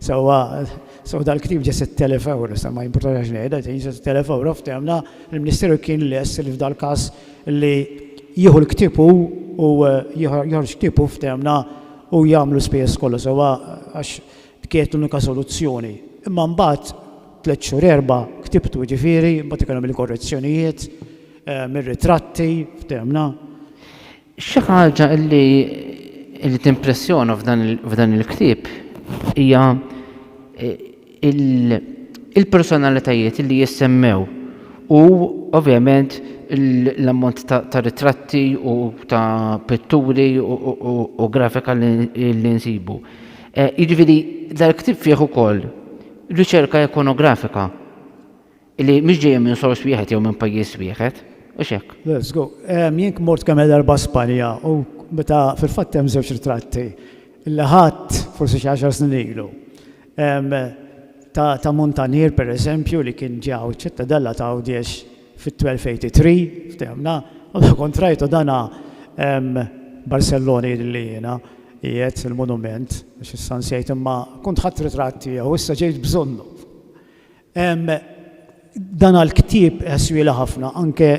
Sewwa, sew dal-ktieb ġie 6,000 ewro, sa ma jimpurtax x'inhi qed tgħid, ġie 6,000 ewro, ftehimna li l-Ministeru kien lest li f'dal-każ li jieħu l-ktieb hu u joħroġ ktieb hu ftehimna hu jagħmel l-ispejjeż kollha sewwa għax kienet l-unika soluzzjoni. Imma mbagħad tliet xhur erba' ktibtu jiġifieri, mbagħad ikun hemm il-korrezzjonijiet, ir-ritratti, ftehimna. Xi ħaġa li li timpressjona f'dan il-ktieb hija il-personalitajiet li jissemmew u ovvjament l-ammont ta' ritratti u ta' pitturi u grafika li nsibu. Jiġifieri dal-ktieb fih ukoll riċerka ikonografika. Illi mhix ġejja minn sors wieħed jew minn pajjiż wieħed, hux hekk? Le, żgur. Jien mort kemm-il darba Spanja u meta, fil-fatt hemm żewġ ritratti li ħadt forsi xi għaxar snin ilu ta' muntanier, per eżempju, li kien ġie hawn iċ-Ċittadella ta' Għawdiex fit-1283, ftehimna, u dak kont rajtu dan Barcellona jidhirli jiena, qiegħed il-monument, għax issa nsejt imma kont ħadt ritratt tiegħu, issa ġejt bżonnu. Dan għall-ktieb ħswielha ħafna anke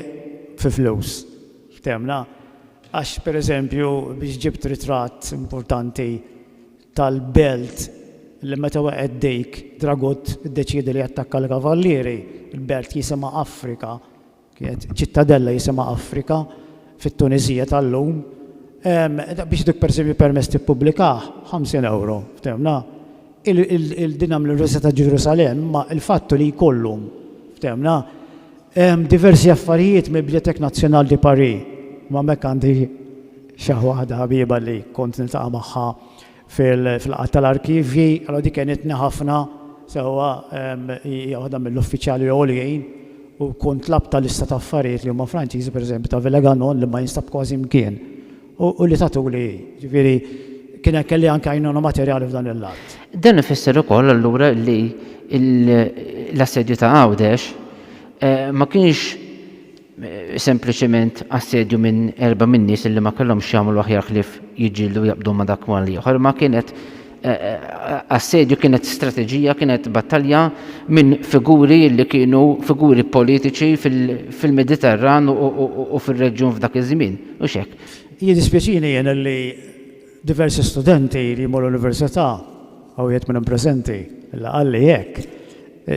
fi flus. Ftemna? Għax pereżempju biex ġibt ritratt importanti tal-belt li meta weqgħet dik, dragut iddeċieda li jattakka l-kavallieri, il-belt jisimha Afrika, Kienet ċittadella jisimha Afrika fit-Tuniżija tal-lum. Biex dik pereżempju permess tippubblikah, ħamsin ewro, fthemna? Il, din għamlu l-Università ta' Ġerusalemm, imma l-fatt hu li jkollhom, fthemna? Diversi affarijiet mill-Bibliothèque Nationale de Paris. Imma hemmhekk għandi xaħ waħda ħabieba li kont niltaqa' magħha fil-laqgħat tal-arkivji, allura dik għenitni ħafna sewwa hija waħda mill-uffiċjali għoljin u kont tlabtha lista ta' affarijiet li huma Franċiżi, pereżempju ta' Villeganon li ma jinstab kważi mkien u li tatuli hi. Jiġifieri kien hemm kelli anke għajnuna materjali f'dan il-lat. Dan ifisser ukoll allura li l-assedju ta' Għawdex ma kienx sempliċement assedju minn erba' min-nies illi ma kellhomx jagħmlu aħjar ħlief jiġġieldu u jaqbdu ma' dak mal ieħor, imma kienet eh, eh, assedju, kienet strateġija, kienet battalja minn figuri li kienu figuri politiċi fil-Mediterran u fil-reġjun f'dak iż-żmien, u xek. Jiddispjaċini jena li Diversi studenti li jmorru l-Università, hawn wieħed minnhom preżenti, illa qalli hekk,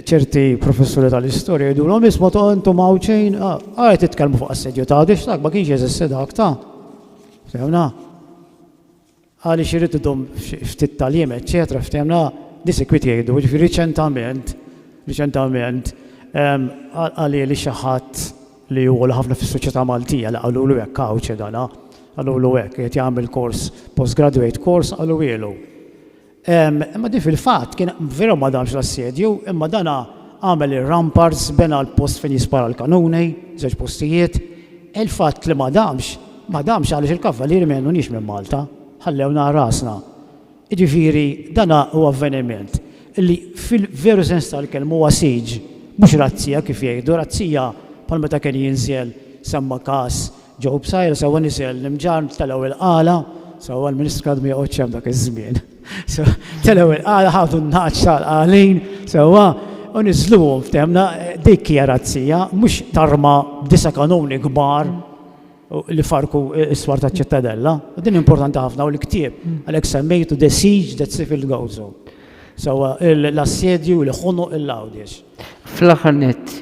ċerti professuri tal-istorja jgħidulhom isma' ta' intom Għawdxin, ara titkellmu fuq assedju ta' Għawdex dak ma kienx jeżisti dak ta'. Ftemna? Għaliex irid idum ftit tal-jiem, eċċetera, ftemna? Disikwit jgħidu, ġifieri riċentament, riċentament, għalieli xi ħadd li hu għola ħafna fis-soċjetà Maltija, li qalulu hekk, Cauce dan ha, qalulu hekk, qiegħed jagħmel kors, postgraduate course qaluhielu. Imma din fil-fatt kien veru ma damx l-assedju, imma dan għamel ir-ramparts, bena l-post fejn jispara l-kanuni, żewġ postijiet. Il-fatt li ma damx, ma damx għaliex il-Kavalieri ma jgħinuniex minn Malta, ħallewna għal rasna. Jiġifieri dan hu avveniment li fil-veru sens tal-kelma huwa siege, mhux razzija kif jgħidu, razzija bħal meta kien jinżel, semma każ Joe Psaila, sewwa niżel l-imġarr, telgħu il-qala, sewwa l-Ministru Kladdu ma joqgħodx hemm dak iż-żmien, telgħu il-qala, ħadu n-nagħaġ tal-qalin, sewwa, u niżżluhom, fehimna, dik hija razzija, mhux tarma' b'disa' kanuni kbar li farrku s-swar taċ-Ċittadella, u din importanti ħafna, u l-ktieb, għalhekk semmejtu The Siege That Sybil Gozo. Sewwa, l-assedju li ħonoq il-Għawdiex. Fl-aħħar nett,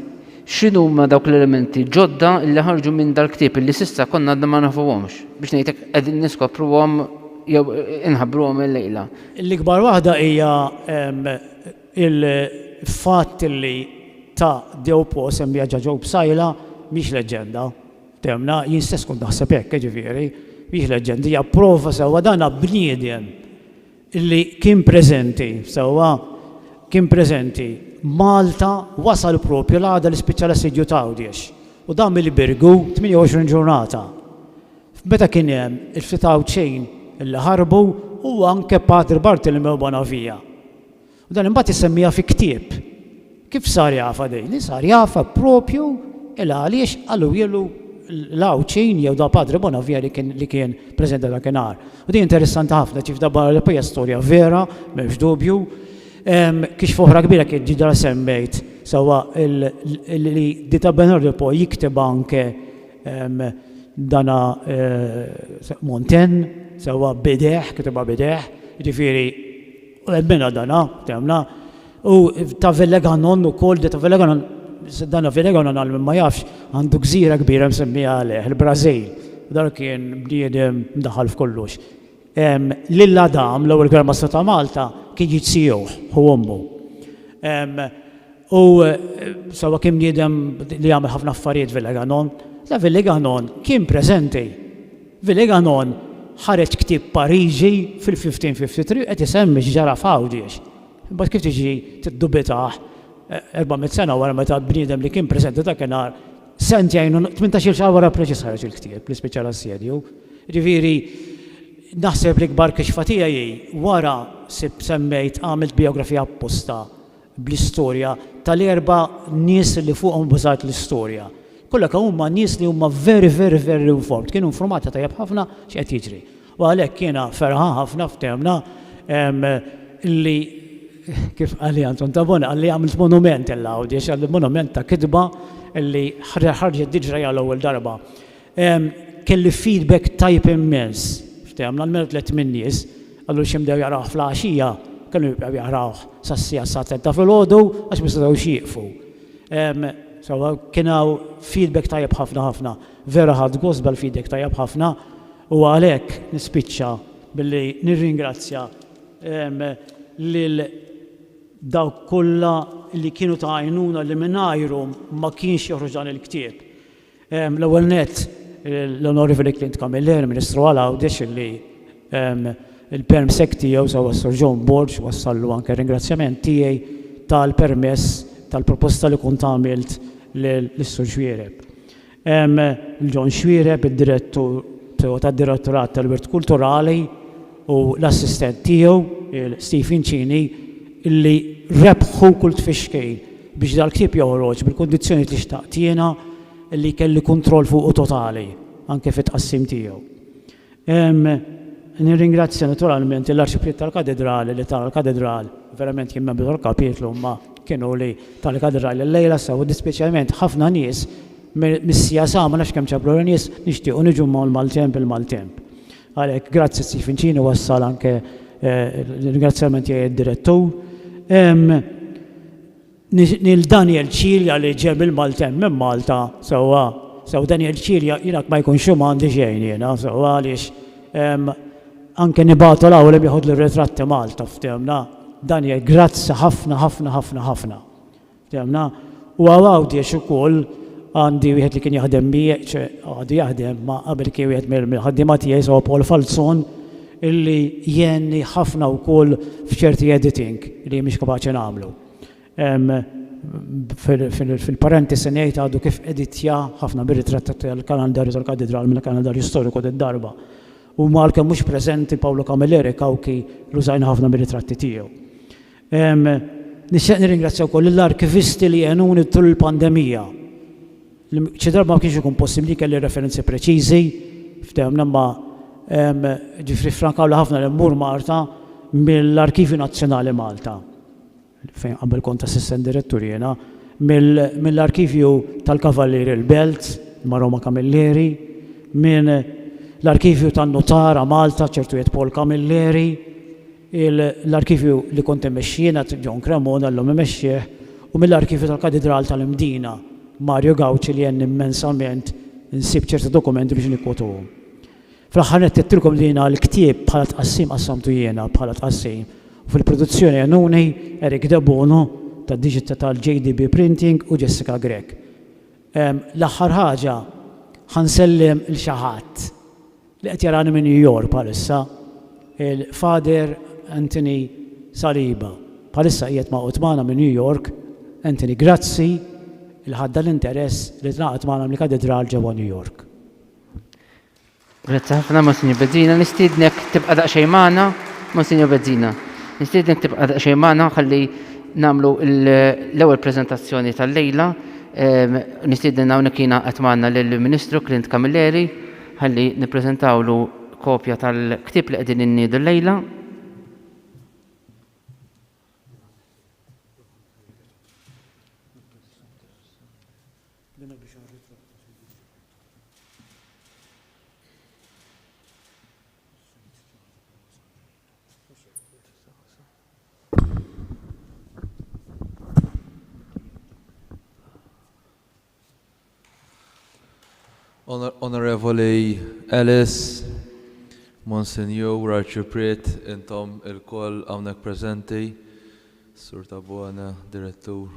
x'inhuma dawk l-elementi ġodda li ħarġu minn dal-ktieb li s'issa konna għadna ma nafuhomx, biex ngħidlek qegħdin niskopruhom jew inħabbruhom illejla? L-ikbar waħda hija l-fatt li ta' Dewpo semmija ġa Ġob Sajla mhix leġġenda, Fehmna? Jien stess kont naħseb hekk, jiġifieri, mhijiex leġġenda, hija prova sewwa dan bniedem li kien preżenti, sewwa, kien preżenti Malta, wasal proprju l-għada li spiċċa l-assedju ta' Għawdex u dam il-Birgu 28 ġurnata. Meta kien hemm il-ftit Għawdxin li ħarbu u anke Patri Bartolomew Bonavia. U dan imbagħad isemmiha fi ktieb. Kif sar jafha din? Din sar jafha proprju il għaliex qaluhielu l-Għawdxin jew da Padre Bonavia li kien li kien preżenti dakinhar. U din interessanti ħafna ċif da barra li pija storja vera, m'hemmx dubju, kiex foħra kbira kien ġidra semmejt sawa li di ta' Bernardo po jikteba anke dana Monten, sawa bideħ, kiteba bideħ, ġifiri U emmena dana, temna, u ta' Veleganon ukoll, de ta' Veleganon, dana Veleganon għal min ma jafx, għandu gżira kbira msemmija għalih, il-Brażil. Dan kien bniedem mdaħħal f'kollox. Lil Adam, l-ewwel Gran Mastru ta' Malta, kien jid sieħuh, ħu ommu. U sewwa kien bniedem li għamel ħafna affarijiet Veleganon. Veleganon kien preżenti. Villéganon ħareġ ktieb Pariġi fil-1553 qed isemmi x'ġara f'Għawdiex. Imbagħad kif tiġi tiddubitah erba' mitt sena wara meta bniedem li kien preżenti dakinhar sentejn u tmintax-il xahar wara preċiż ħareġ il-ktieb li spiċċa l-assedju. Jiġifieri naħseb l-ikbar kixfa tiegħi hi wara sibt semmejt għamilt bijografija apposta bl-istorja tal-erba' nies li fuqhom ibbażat l-istorja. Kollha kemm huma nies li huma very, very, very informed, kienu informati tajjeb ħafna x'qed jiġri. U għalhekk jiena ferħan ħafna f'termna li kif qal Anton Tabone qalli għamilt monument il-Għawdiex, għamilt monument ta' kitba li ħarġet diġra hija l-ewwel darba. Kelli feedback tajjeb immens. Ftehemna l-merħ tlett min-nies, qalu li xi bdew jaqrawh fl-għaxija, kellhom jibqgħu jaqrawh sas-siegħa s-saha tliet ta' filgħodu għax ma setgħux jieqfu. So, kien hawn feedback tajjeb ħafna ħafna. Vera ħadt gost bħall-feedback tajjeb ħafna u għalhekk nispiċċa billi nirringrazzja lil dawk kollha li kienu ta' għajnuna li mingħajrhom ma kienx joħroġ dan il-ktieb. L-ewwel nett, l-Onorevoli Clint Camilleri, Ministru għal Għawdex, illi l-perm sec tiegħu sewwa s-Sur John Borg wassallu anke r-ringrazzjament tiegħi tal-permess tal-proposta li kont għamilt lis-Sur Xuereb. Lil John Xuereb, id-Direttur tad-Direttorat tal-Wirt Kulturali, u l-assistent tiegħu, Stephen Cini, li rebħu kull tfixkil biex dal-ktieb joħroġ bil-kundizzjonijiet li xtaqt jiena li jkelli kontroll fuqu totali, anke fit-tqassim tiegħu. Nirringrazzja naturalment lill-Arċipriet tal-Katedrali li ta l-Katedral, verament jien membru tal-Kapitlu imma kienu li ta l-Katedral illejla sew u dispeċjalment ħafna nies mis-CSA ma nafx kemm ġablu nies nixtiequ niġu mal-maltemp il-maltemp. Għalhekk, grazzi Steve Fincini, wassal anke l-ringrazzjament tiegħi għad-Direttur. Lil Daniel Cilia li ġie mill-Maltemp, minn Malta, sewwa. Sew Daniel Cilia, jiena ma jkunx hu ma għandi xejn jiena, sewwa għaliex anke nibagħtu l-hawn li bieħodlu r-ritratti Malta, fthimna. Daniel, grazzi ħafna, ħafna, ħafna, ħafna. Fehmna. U hawn Għawdex ukoll għandi wieħed li kien jaħdem miegħi, ċe għadu jaħdem, ma qabel kien wieħed mill-ħaddiema tiegħi jisgħu Paul Falzon illi għenni ħafna wkoll f'ċerti editing li jien mhix kapaċi nagħmlu. Fil-parentesi ngħid għadu kif editja ħafna mir-ritratti tal-kalandarju tal-Katidral mill-kalandarju storiku d-darba. Huma għalkemm mhux preżenti Paolo Camilleri, Cauchi, l-użajna ħafna mir-ritratti tiegħu. Nixtieq nirringrazzja wkoll lill-arkivisti li għenuni tul il-pandemija. Xi drabi ma kienx ikun possibbli li kelli referenzi preċiżi f'dehom imma ġifieri ffrankawli ħafna li mmur Malta mill-Arkivju Nazzjonali Malta, fejn qabel kont assistent direttur jiena, mill-Arkivju tal-Kavallieri il-Belt ma' Roma Camilleri, minn l-Arkivju tan-Nutara Malta ċertu jgħid Paul Camilleri, L-arkivju li kont immexxi jien, għad John Cremona, llum imexxih, u mill-arkivju tal-Katidral tal-Mdina, Mario Gauci, li għenni mmensament insib ċerta dokumenti biex nikkwotuhom. Fl-aħħar nett għedtilkom li jiena l-ktieb bħala tqassim qassamtu jiena bħala tqassim u fil-produzzjoni għenuni Eric Debono tad-Digita tal-JDB Printing u Jessica Grech. L-aħħar ħaġa, ħa nsellem 'l xi ħadd. Li qed jarani minn New York bħalissa, il-Father Anthony Saliba. Bħalissa qiegħed magħqud magħna minn New York. Anthony, grazzi li ħadt dan l-interess li tingħaqad magħna mill-Katidral ġewwa New York. Grazzi ħafna, Monsinjur Bezzina. Nistiednek tibqa' daqsxejn magħna, Monsinjur Bezzina. Nistiednek tibqa' daqsxejn magħna ħalli nagħmlu l-ewwel preżentazzjoni tal-lejla. Ehm, nistieden hawnhekk jiena qed magħna lill-Ministru Clint Camilleri. Ħalli nippreżentawlu kopja tal-ktieb li qegħdin inniedu llejla. Onorevoli Ellis, Monsinjur, Arċipriet, intom ilkoll hawnhekk preżenti, Sur Tabone, Direttur.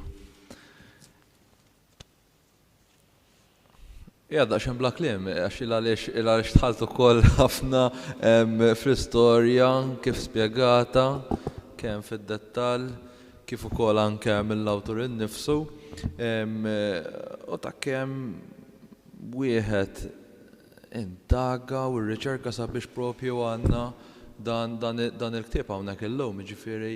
Hija daqsxejn bla kliem, għax il għaliex il għaliex tħalt ukoll ħafna fl-istorja kif spjegata kemm fid-dettall kif ukoll anke mill-awtur innifsu, u ta' kemm wieħed indaga u rriċerka sabiex propju għandna dan il-ktieb hawnhekk illum. Jiġifieri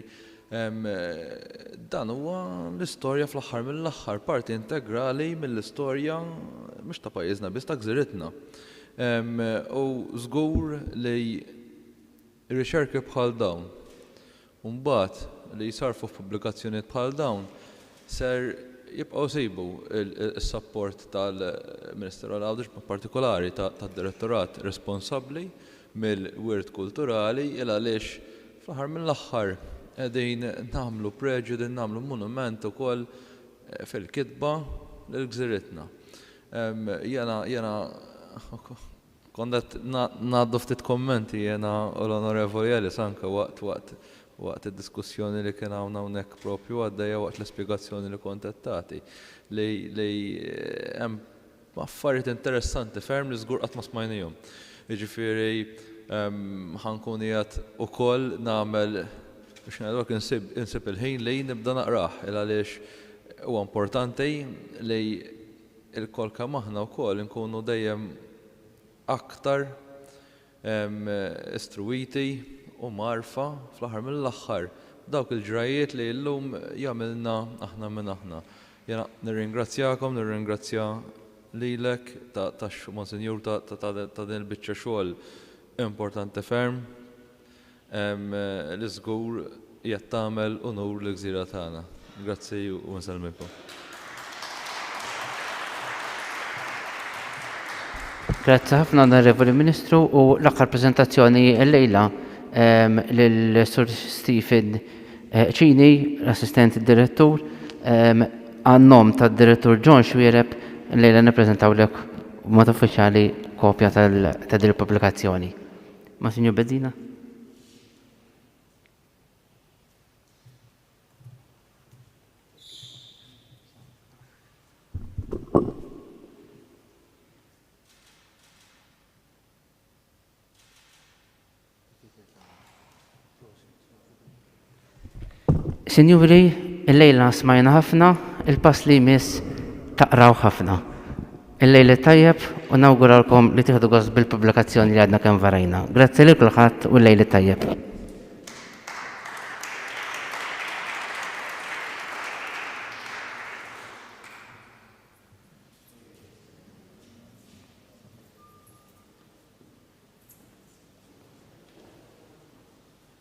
dan huwa l-istorja fl-aħħar mill-aħħar, parti integrali mill-istorja mhux ta' pajjiżna biss, ta' gżiritna. U żgur li Riċerki bħal dawn, u mbagħad li jsarrfu f'pubblikazzjonijiet bħal dawn, ser jibqgħu jsibu s-sapport tal-Ministeru għal Għawdex, b'mod partikolari tad-Direttorat responsabbli mill-Wirt Kulturali, il għaliex fl-aħħar mill-aħħar qegħdin nagħmlu preġju, qegħdin nagħmlu monument ukoll fil-kitba lil gżiritna. Jiena, jiena, Kont qed ngħaddu ftit kummenti jiena u l-Onorevoli Ellis anke waqt waqt waqt id-diskussjoni li kien hawn hawnhekk proprju għaddejja waqt l-ispjegazzjoni li kont qed tagħti li li hemm affarijiet interessanti ferm li żgur qatt ma smajniehom. Jiġifieri ħa nkun qiegħed ukoll nagħmel biex ngħidulek insib insib il-ħin li nibda naqrah il għaliex huwa importanti li ilkoll kemm aħna wkoll inkunu dejjem aktar istruwiti u mgħarrfa fl-aħħar mill-aħħar b'dawk il-ġrajjiet li llum jagħmilna aħna minn aħna. Jiena nirringrazzjakom, nirringrazzja lilek ta' Monsinjur ta' din il-biċċa xogħol importanti ferm. li żgur qiegħed tagħmel unur lill-gżira tagħna. Grazzi u nsellmilkom. Grazzi ħafna Onorevoli Ministru u l-aħħar preżentazzjoni llejla lil Sur Stephen Cini, l-Assistent Direttur, għan-nom tad-Direttur John Xuereb llejla nippreżentawlek b'mod uffiċjali kopja ta' din il-pubblikazzjoni. Ma' Sinjur Bezzina? Sinjuri, illejla smajna ħafna, il-pass li jmiss taqrawh ħafna. Il-lejl it-tajjeb u nawguralkom li tieħdu gost bil-pubblikazzjoni li għadna kemm varajna. Grazzi lil kulħadd u l-lejl it-tajjeb.